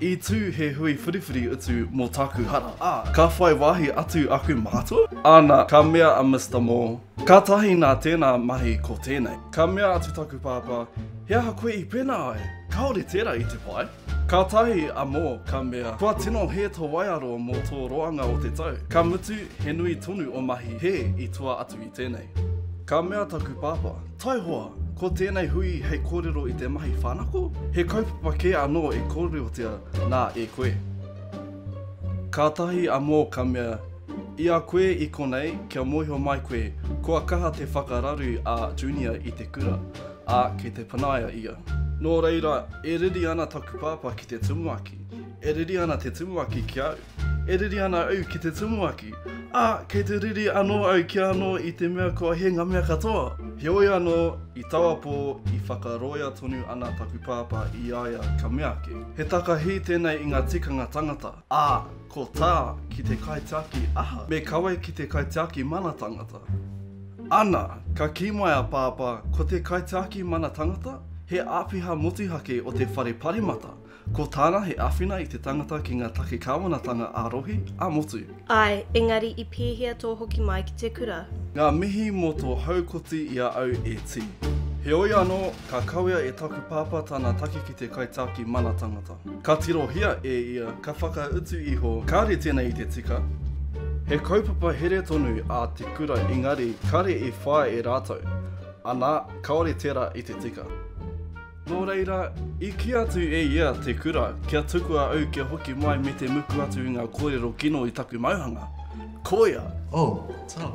I tū he hui whiriwhiri utu mō tāku hara, ā, ka whai wāhi atu aku mātua? Āna, ka mea a Mister Mo, Kātahi nā tēnā mahi ko tēnei. Ka mea atu taku pāpā, He aha koe i pēnā ai? Kāore tērā i te pai. Kātahi a Mo ka mea, Kua tino hē tō waiaro mō tō roanga o te tau, ka mutu he nui tonu o mahi hē i tua atu i tēnei. Ka mea taku pāpā, Taihoa, ko tēnei hui hei kōrero i te mahi whānako, he kaupapa kē anō e kōrerotia nā e koe. Kātahi a Mō ka mea, I a koe i konei, kia mōhio mai koe, kua kaha te whakararu a Junia i te kura, ā, kei te panaia ia. Nō reira, e riri ana taku pāpā ki te tumuaki, e riri ana te tumuaki ki au. E riri ana au ki te tumuaki, ā, kei te riri anō au kia anō i te mea kua hē ngā mea katoa. Heoi anō, i taua pō, i whakaroia tonu ana taku pāpā i a ia ka mea ake, He takahi tēnei i ngā tikanga tangata, ā, ko tā ki te kaitiaki aha, me kawe ki te kaitiaki mana tangata. Ana, ka kī mai a pāpā, ko te kaitiaki mana tangata, he āpiha motuhake o te whare paremata, Ko tāna he āwhina i te tangata ki ngā take kāwanatanga ā-rohe, ā-motu. Āe, engari i pēhea tō hoki mai ki te kura? Ngā mihi mō tō haukoti i a au e Tī. Heoi anō, ka kawea e taku pāpā tana take ki te kaitāki mana tangata. Ka tirohia e ia, ka whakautu iho, kāre tēnei i te tika. He kaupapa here tonu ā te kura engari kāre i whāia e rātou, anā, kāore tērā i te tika. Nō reira, i kī atu e ia te kura, kia tukua au kia hoki mai me te muku atu i ngā kōrero kino i taku mauhanga. Koia! Oh, tau.